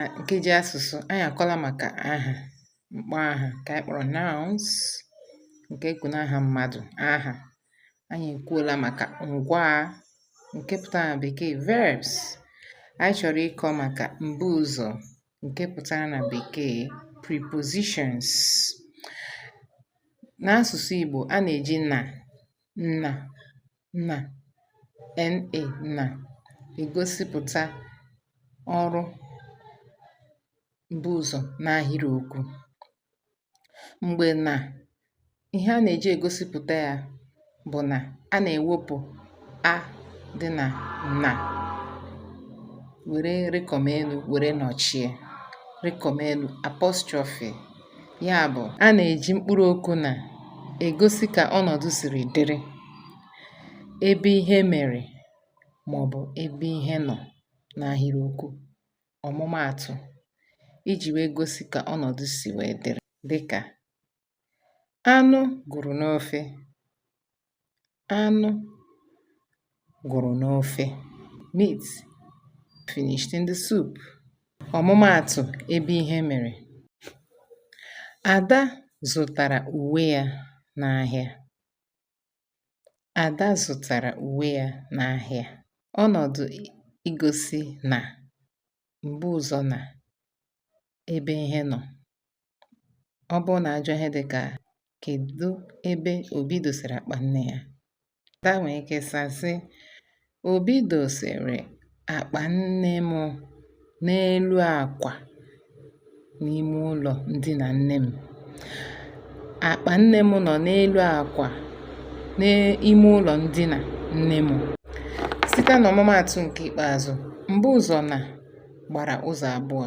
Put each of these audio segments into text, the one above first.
Na nkeji asụsụ, anyị akọla maka aha, mkpọ aha ka anyị kpọrọ nouns nke ekwu n'aha mmadụ, aha. Anyị ekwuola maka ngwaa nke pụtara na bekee verbs. Anyị chọrọ ịkọ maka mbuụzọ nke pụtara na bekee prepositions. N'asụsụ Igbo, a na-eji na, na, na NA na-egosipụta ọrụ mbuụzọ n'ahịrịokwu. Mgbe na ihe a na-eji egosipụta ya bụ na a na-ewepụ a dị na na were rịkọmelu were nọchie rịkọmelu apostrophe Ya bụ, a na-eji mkpụrụ okwu na egosi ka ọnọdụ siri dịrị, ebe ihe mere maọbụ ebe ihe nọ n'ahịrịokwu. Ọmụmaatụ, iji wee gosi ka ọnọdụ si wee dịrị dịka anụ gwụrụ n'ofe, anụ gwụrụ n'ofe meat finished in the soup ọmụmaatụ ebe ihe mere Ada zụtara uwe ya n'ahịa Ada zụtara uwe ya n'ahịa ọnọdụ igosi na m̀bu ụzọ nà ebe ihe nọ̀ ọ bụrụ nà a jụọ ihe dịkà kèdu ebe Obi dòsèrè àkpà nne yā Ada nwèrè ike saa sị Obi dòsèrè àkpà nne mụ n'elu àkwà n'ime ụlọ ndina nne m akpa nne m nọ n'elu akwa n'ime ụlọ ndina nne m site n'ọmụmaatụ nke ikpeazụ mbuụzọ na gbara ụzọ abụọ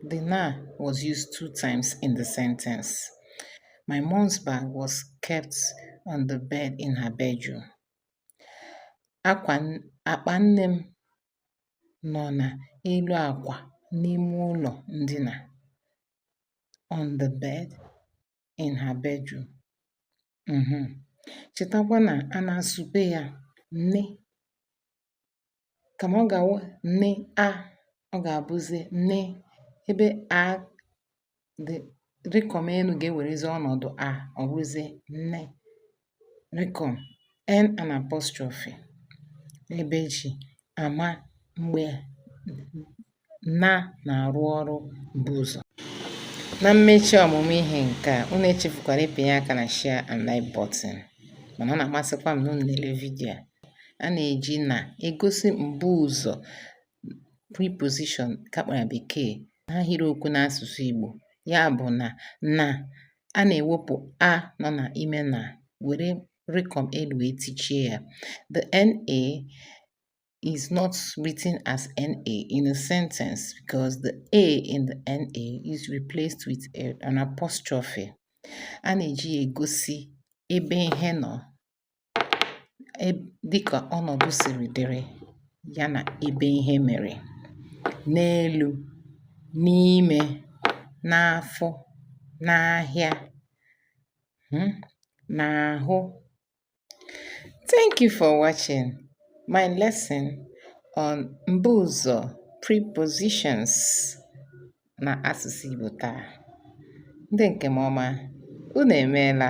the na was used two times in the sentence my mom's bag was kept on the bed in her bedroom akpa nne m nọ na elu akwa n'ime ụlọ ndina on the bed in her bedroom mhm chetakwa na a na-asụpe ya n kama ọ ga-awụ n a ọ ga-abụzi n ebe a dị rịkọmelu ga-ewerezi ọnọdụ a ọ bụrụzie n rịkọm n and apostrophe ebe e ji ama mgbe na na-arụ ọrụ mbuụzọ na mmechi ọmụmụ ihe nke a unu echefukwara ịpịnye aka na share and like button mana ọ na-amasịkwa m na unu na-ele vidiyo a na-eji na egosi mbuụzọ preposition ka a kpọrọ ya bekee n'ahịrịokwu n'asụsụ Igbo ya bụ na na a na-ewepụ a nọ na ime na were rịkọm elu wee tichie ya the na is not written as NA in a sentence because the A in the NA is replaced with a, an apostrophe. A na-eji ya egosi ebe ihe nọ e, dịka ọnọdụ siri dịrị ya na ebe ihe mere n'elu n'ime n'afọ n'ahịa hmm, n'ahụ thank you for watching my lesson on mbuụzọ prepositions na asụsụ Igbo taa ndị nke m ọma unu emeela